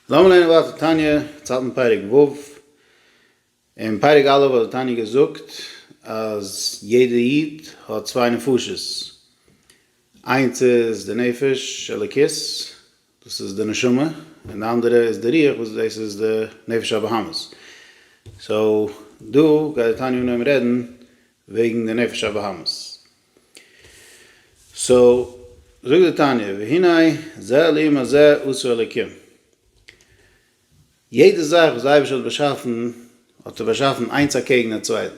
לאמיר לערנען ווייטער תניא, צייט אין פרק ו', אין פרק א' האט דער תניא געזאגט אז יעדער איד האט צוויי נפשות, איינס איז די נפש אלוקית, דאס איז די נשמה, און די אנדערע איז די רוח וואס דאס איז די נפש הבהמית, סאו דא גייט דער תניא אנהויבן רעדן וועגן די נפש הבהמית, סאו, זאגט די תניא, והנה זה אלים הזה עשו אלקים. יעדע זאך וואס די אייבערשטער האט באשאפן, האט ער באשאפן איינס אקעגן א צווייטן.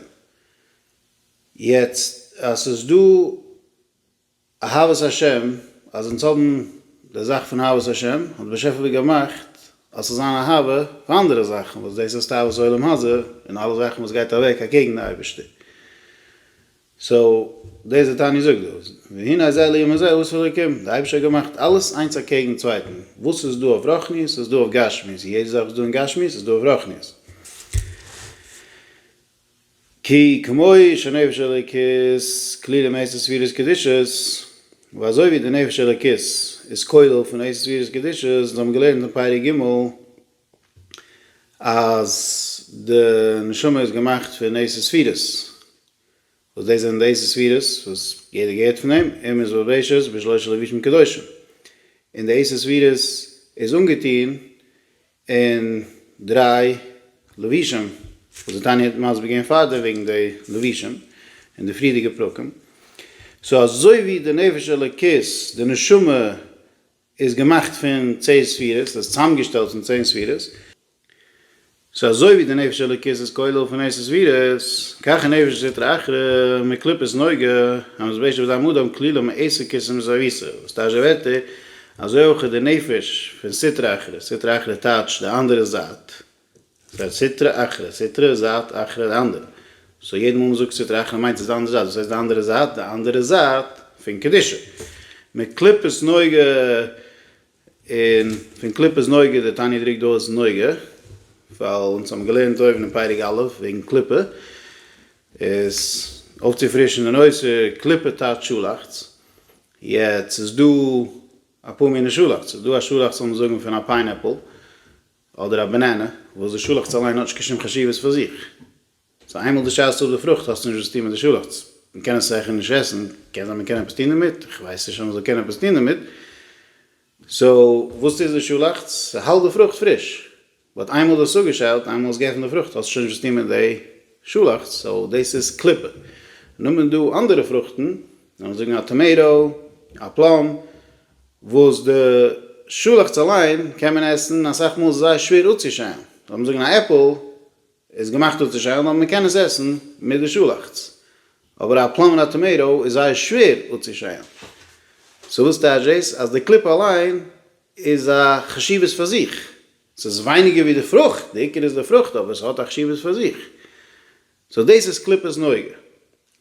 יעצט, אז ס'איז דא אהבת השם, אז אונז האבן די זאך פון אהבת השם, האט די באשעפער געמאכט אז ס'זאל זיין אהבה פאר אנדערע זאכן, וואס דאס איז תאוות העולם הזה, און אלע זאכן וואס גייט אוועק אקעגן די אייבערשטער. סאו דאס איז די תניא זאגט דא, והנה הזה ליום הזה הוא עושה אלוקים, די אייבישטער האט געמאכט אלעס איינס אקעגן צווייטן, וואס איז דא אויף רוחניות איז דא אויף גשמיות, און יעדע זאך וואס איז דא אין גשמיות איז דא אויף רוחניות. כי כמוהו שנפש אלוקית כלולה מעשר ספירות קדושות, ווייל אזוי ווי די נפש אלוקית איז כולל פון עשר ספירות קדושות, און זיי האבן געלערנט אין פרק ג' אז די נשמה איז געמאכט פון עשר ספירות, וואס דאס זענען דאס די ספירות וואס יעדער געהערט פון אים, און מען איז בבראשית בשלושה לבישים קדושים, און די עשר ספירות איז אנגעטוהן אין דריי לבישים, וואס די תניא האט מסביר געווען פארדעם וועגן די לבישים אין די פריערדיגע פרקים, סאו אזוי ווי די נפש אלוקית, די נשמה, איז געמאכט פון צען ספירות, איז צוזאמגעשטעלט פון צען ספירות, סאו אזוי ווי די נפש אלוקית איז כולל פון עשר ספירות, כך נפש סטרא אחרא מקליפת נוגה המזבשת בדם אדם כלולה מעשר כיסים מסביסה, וואס טייטש די ווערטער, אזוי אויך איז די נפש פון סטרא אחרא, סטרא אחרא טייטש די אנדערע זייט, ס'הייסט סטרא אחרא, סטרא איז זייט, אחרא די אנדערע, סאו יעדע מאל מ'זאגט סטרא אחרא מיינט עס די אנדערע זייט, וואס הייסט די אנדערע זייט? די אנדערע זייט פון קדושה, מקליפת נוגה און פון קליפת נוגה, די תניא דרוקט דא אויס נוגה, ווייל אונז האבן געלערנט אויבן אין פרק א' וועגן קליפה, איז אויפצופרישן די נושא, קליפה טייטש שאלאכץ, יעצט ס'איז דא אפאר מיני שאלאכץ, ס'איז דא א שאלאכץ לאמיר זאגן פון א פיינעפל, אדער א בענענע, וואס די שאלאכץ אליין האט נישט קיין שום חשיבות פאר זיך. סאו איינמאל די שייסט אפ די פרוכט האסטו נישט וואס צו טון מיט די שאלאכץ. מען קען עס זעכער נישט עסן, קען זיין מען קען עפעס טון דערמיט, איך ווייס נישט אז מען זאל קענען עפעס טון דערמיט. סאו וואס טוט די שאלאכץ? ס'האלט די פרוכט פריש. באט איינמאל די האסט אפגעשיילט, איינמאל האסט געעפנט די פרוכט האסטו שוין נישט וואס צו טון מיט די שאלאכץ, סאו דאס איז קליפה. און נאכדעם איז דא אנדערע פרוכטן, לאמיר זאגן א טאמעיטא, א פלאם, וואס די שאלאכץ אליין קען מען עסן, אסאך מאל איז עס זייער שווער אפצושיילן, לאמיר זאגן א עפל איז געמאכט אפצושיילן אבער מען קען עס עסן מיט די שאלאכץ, אבער א פלאם און א טאמעיטא איז זייער שווער אפצושיילן, סאו וואס טייטש דאס? אז די קליפה אליין איז א חשיבות פאר זיך, ס'איז ווייניגער ווי די פרוכט, די עיקר איז די פרוכט אבער ס'האט א חשיבות פאר זיך, סאו דאס איז קליפת נוגה.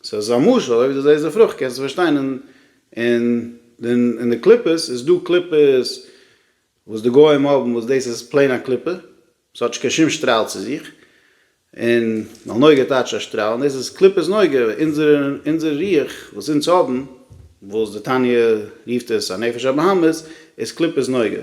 סאו עס איז א משל אויב די זעסט די פרוכט קענסטו פארשטיין און און און די קליפות איז דא קליפות וואס די גוים האבן וואס דאס איז פלעין א קליפה עס האט נישט קיין שום שטראל צו זיך און ווייל נוגה טייטשט א שטראל און דאס איז קליפת נוגה אונזערע אונזערע רוח וואס אונז האבן וואס די תניא רופט עס א נפש הבהמית איז קליפת נוגה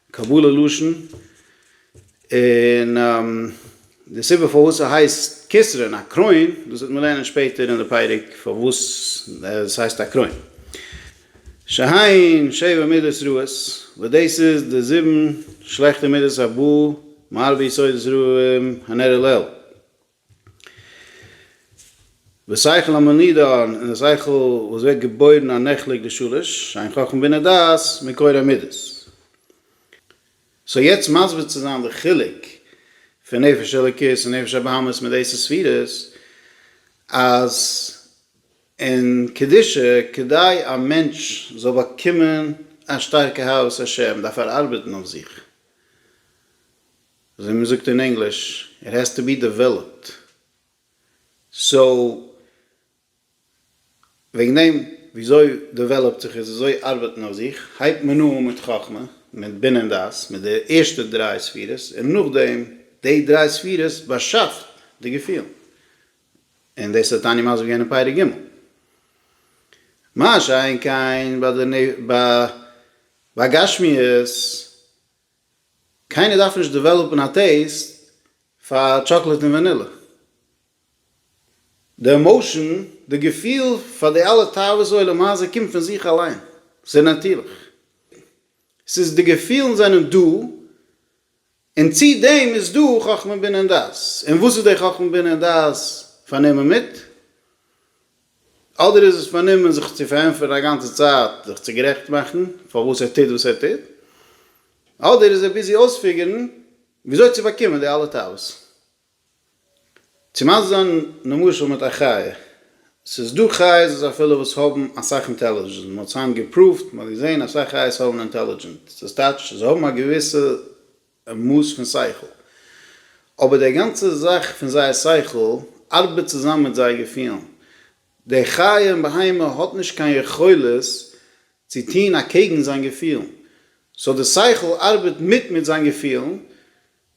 קבלה לשון, און די סיבה פארוואס ס'הייסט כסרין א קרוין, דאס וועט מען לערנען שפעטער אין די פרק פארוואס ס'הייסט א קרוין. שהיין שבע מידות רעות, וואס דאס איז די זיבן שלעכטע מידות הבא מארבע יסודות רעים הנראה לעיל. דער שכל המנידון און דער שכל וואס ווערט געבוירן א נחלק די שלש, עין חכם בינה דעת, מקור המידות. סאו יעצט מסביר צו זיין די חילוק פון נפש אלוקית און נפש הבהמית מיט עשר ספירות, אז אין קדושה כדי א מענטש זאל באקומען א שטארקע אהבת השם דארף ער ארבעטן אויף זיך, ווי מען זאגט אין ענגליש, איט העז טו בי דעוועלאפד. סאו, וועגן דעם, וויאזוי דעוועלאפט זיך עס, וויאזוי ארבעט מען אויף זיך, הייבט מען אן מיט חכמה, מיט בינה און דעת, מיט די ערשטע דריי ספירות, און נאכדעם, די דריי ספירות באשאפט די געפילן. און דאס האט טאני מסביר געווען אין פרק ג'. מה שאין כן ביי די, ביי גשמיות, קיינער דארף נישט דעוועלאפן א טעיסט פאר טשאקלעט און ווענילע. די עמאושען, די געפיל פאר די אלע תאוות עולם הזה קומט פון זיך אליין, ס'איז נאטירליך. ס'איז די געפילן זענען דא, און צו דעם איז דא חכמה בינה און דעת. און וואס איז די חכמה בינה און דעת פארנומען מיט? אדער איז עס פארנומען זיך צו פארענטפערן א גאנצע צייט, זיך צו גערעכט מאכן פארוואס ער טוט וואס ער טוט, אדער איז ער ביזי אויספיגערן וויאזוי צו באקומען די אלע תאוות. צו מסביר זיין נמשל מיט א חיה. ס'איז דא חיות וואס אפילו וואס האבן אסאך אינטעלידזשענט, מ'האט היינט געפראווט, מ'האט געזען אסאך חיות האבן אינטעלידזשענט, דאס טייטש זיי האבן א געוויסע א מאס פון שכל. אבער דער גאנצער זאך פון זייער שכל ארבעט צוזאם מיט זייער געפילן. דער חיה און בהמה האט נישט קיין יכולת צו טון אקעגן זיין געפילן. סאו דער שכל ארבעט מיט מיט זיין געפילן,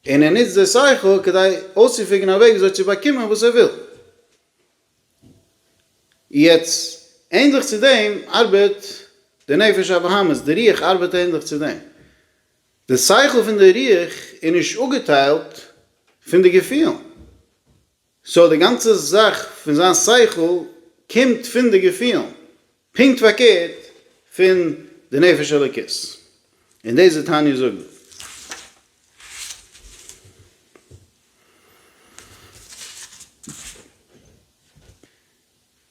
און ער נוצט דער שכל כדי אויסצופיגערן א וועג וויאזוי צו באקומען וואס ער וויל. יעצט, ענדליך צו דעם ארבעט די נפש הבהמית, די רוח ארבעט ענדליך צו דעם. די שכל פון די רוח איז נישט אפגעטיילט פון די געפילן, סאו די גאנצע זאך פון זיין שכל קומט פון די געפילן, פונקט פארקערט פון די נפש אלוקית, און דאס וועט תניא זאגן.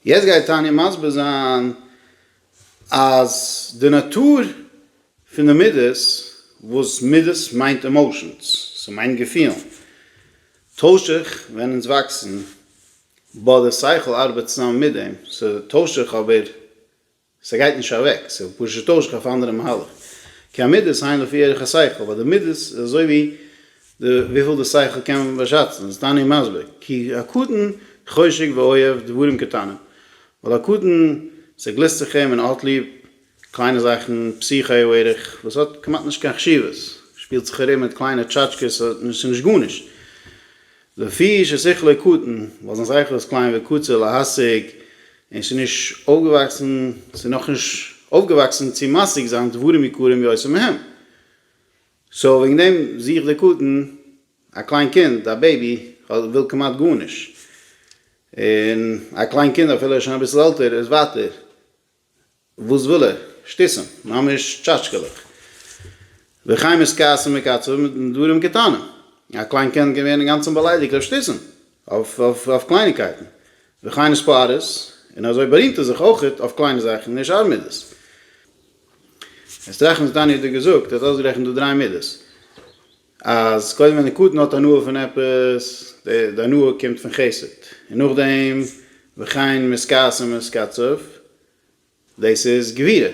יעצט גייט תניא מסביר זיין אז די נאטור פון די מידות, וואס מידות מיינט עמאושענס, ס'מיינט געפילן, טוישט זיך ווען אונז וואקסן, בה די שכל ארבעט צוזאמען מיט דעם, ס'טוישט זיך אבער ס'גייט נישט אוועק, ס'וועט פשוט טוישן אויף א אנדערע מהלך. כי המידות הן לפי ערך השכל, ווייל די מידות איז אזוי ווי די וויפיל די שכל קען באשאצן, איז תניא מסביר, כי הקטן חושק ואוהב דברים קטנים, ווייל א קטן ס'גליסט זיך אים און האט ליב קליינע זאכן, פסיכי הוא ערך, וואס האט כמעט נישט קיין חשיבות, שפילט זיך ארום מיט קליינע טשאטשקעס, ס'איז נישט גארנישט, לפי ששכלו קטן, ווייל זיין שכל איז קליין וקצר להשיג, און ס'איז נישט אויפגעוואקסן, ס'איז נאכנישט אויפגעוואקסן צו משיג זיין דברים יקרים יותר מהם. סאו וועגן דעם זוכט דער קטן, א קליין קינד, א בעיבי, וויל כמעט גארנישט. און א קליין קינד, אפילו ער איז שוין אביסל עלטער, איז ווייטער וואס וויל ער? שטותים, ממש טשאטשקעלעך. וחיים איז כעסים וקצבים מיט דברים קטנים. א קליין קינד קען ווערן אינגאנצן באליידיגט אויף שטותים, אויף קלייניקייטן. וכן איז פאריס, און אזוי בארימט ער זיך אויכעט אויף קליינע זאכן און שאר מידות. עסט רחמסט דני האט דיר געזאגט, ער האט אויסגערעכנט דא דריי מידות. אז קודם ווען די קטן האט הנאה פון עפעס, די הנאה קומט פון חסד, און נאכדעם וכן מזכאס ומזקצף, דאס איז גבירה,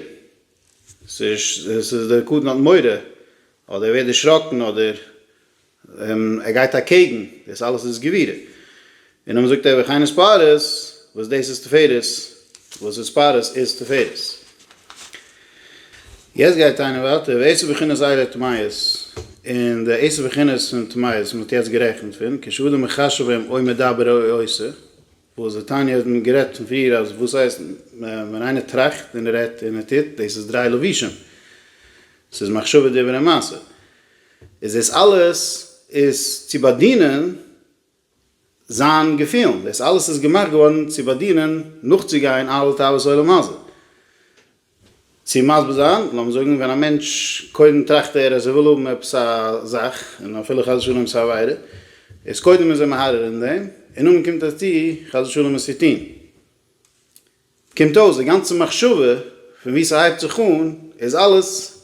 ס'איז די קטן האט מורא, אדער ער ווערט דערשראקן, אדער ער גייט אקעגן, דאס אלעס איז גבירה, און האבן געזאגט עבר חן איז פארעס, וואס דאס איז תפארת, וואס איז פארעס איז תפארת. יעצט גייט איינער ווייטער ועשר בחינות עילי תמיות, און די עשר בחינות פון תמיות וואס מען האט יעצט גערעכנט פון, כשאדם מחשב הם או מדבר או עושה, וואס די תניא האט מען גערעדט פון פריער אז וואס הייסט ווען איינער טראכט און רעדט און ער טוט, דאס איז דריי לבושים, ס'איז מחשבה דיבור און מעשה, איז דאס אלעס איז צו באדינען זיין געפילן, דאס אלעס איז געמאכט געווארן צו באדינען, נאכצוגיין אלע תאוות עולם הזה. צו מסביר זיין, לאמיר זאגן ווען א מענטש, קודם טראכט ער אז ער וויל האבן עפעס א זאך, און אפילו חס ושלום עפעס א עבירה, איז קודם איז ער מהרהר אין דעם, און נאכדעם קומט ער צו חס ושלום עס צו טון. קומט אויס די גאנצע מחשבה פון וואו ס'הייבט זיך אן איז אלעס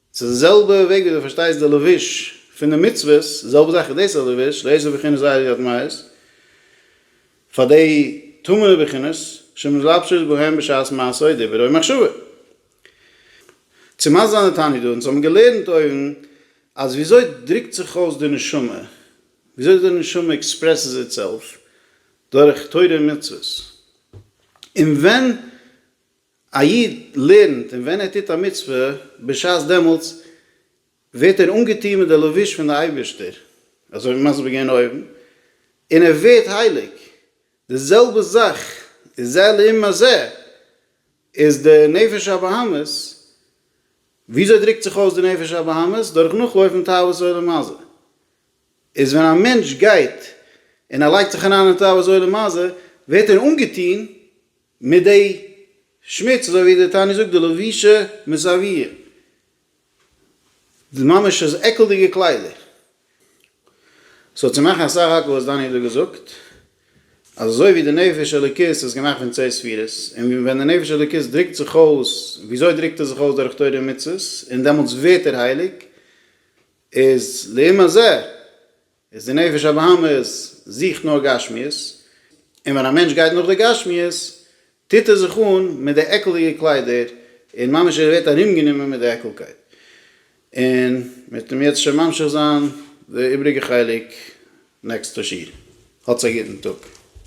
ס'איז די זעלבע וועג ווי דו פארשטייסט די לבוש פון די מצוות, די זעלבע זאך איז דאס א לבוש, דאס איז בחינת ז' יד מעות, פאר די טמא'נע בחינות, שמתלבשות בהן בשעת מעשה או דיבור או מחשבה. צו מסביר זיין די תניא דא, אונז האבן געלערנט אויבן אז ווי אזוי דרוקט זיך אויס די נשמה, ווי אזוי די נשמה עקספרעסס איטסעלף דורך תורה און מצוות, און ווען א איד לערנט און ווען ער טוט א מצוה, בשעת דעמאלטס ווערט ער אנגעטון מיט די לבוש פון די אייבערשטער, אזוי ווי מסביר געווען אויבן, און ער ווערט הייליג, די זעלבע זאך איז זה לעומת זה, איז די נפש הבהמית, וויאזוי דרוקט זיך אויס די נפש הבהמית? דורך נאכלויפן תאוות עולם הזה, איז ווען א מענטש גייט און ער לייגט זיך אריין אין תאוות עולם הזה, ווערט ער אנגעטון מיט די שמוץ אזוי ווי די תניא זאגט די לבישה מזוויע די ממש איז עקלדיגע קליידער סאו צו מאכן אסאך האקן וואס דני האט דא געזאגט אז אזוי ווי די נפש אלוקית איז געמאכט פון צער ספירות און ווען די נפש אלוקית דרוקט זיך אויס וויאזוי דרוקט ער זיך אויס דורך תורה ומצוות און דעמאלטס ווערט ער הייליג איז לעומת זה איז די נפש הבהמית זוכט נאר גשמיות, און ווען א מענטש גייט נאך די גשמיות טוט ער זיך אן מיט די עקלדיגע קליידער, און ממש ער ווערט ארומגענומען מיט די עקלקייט, און מ'וועט אים יעצט שוין ממשיך זיין די איבריגע חלק נעקסטע שיעור. האטס א גוטן טאג.